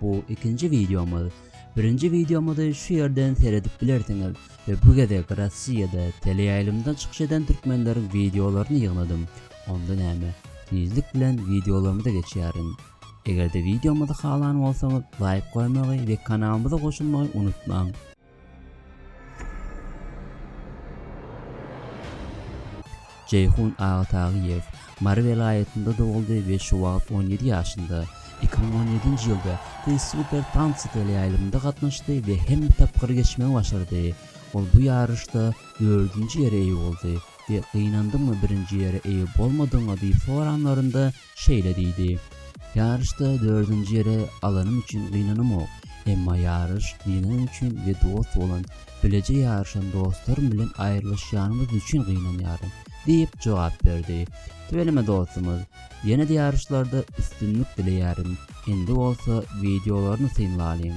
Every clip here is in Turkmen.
Bu ikinji wideomyz. Birinji wideomyzy şu ýerden seredip bilersiňiz we bu gezek Russiýada teleýaýlymda çykyş eden türkmenleriň wideolaryny ýygnadym. Onda näme? Tizlik bilen wideolarymyza geçýärin. Eger-de wideomyzy halan bolsaňyz, laýk goýmagy we kanalymyza goşulmagy unutmaň. Jeýhun Agatagyýew Mary welaýatynda doguldy we şu wagt on ýedi ýaşynda. Iki müň on ýedinji ýylda Ty Super Tancy teleýaýlymynda gatnaşdy we hemme tapgyry geçmegi başardy. Ol bu ýaryşda dördünji ýere eýe boldy we Gynandyňmy birinji ýere eýe bolmadygyňa diýip soranlarynda şeýle diýdi, Ýaryşda dördünji ýeri alanym üçin gynanamok, emma ýaryş gynanym üçin we dost bolan, bileje ýaryşan dostlarym bilen aýrylyşýanymyz üçin gynanýaryn, diýip jogap berdi. Tüweleme dostumyz, ýene-de ýaryşlarda üstünlik dileýärin, indi bolsa wideolaryny synlalyň.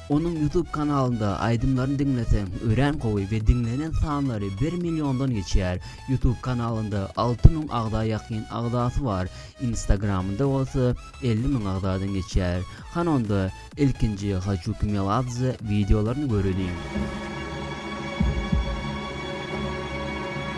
Onuň YouTube kanalynda aýdymlaryny diňleseň örän gowy we diňlenen sanlary bir milliondan geçýär. YouTube kanalynda alty müň agza ýakyn agzasy bar, instagramynda bolsa elli müň agzadan geçýär. Hany onda ilkinji Haçuki Meladze wideolaryny göreliň.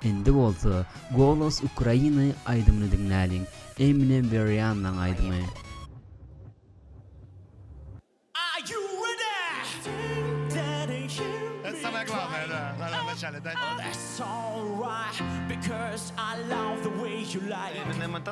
Indi bolsa Golos Ukrainy aýdymyny diňläliň, Eminem we Riannaň aýdymy.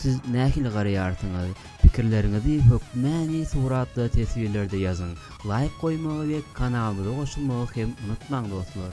Siz nähili garaýarsyňyz? Pikirleriňizi hökmäni suratly teswirlerde ýazyň! Laýk goýmagy we kanalymyza goşulmagy hem unutmaň dostlar!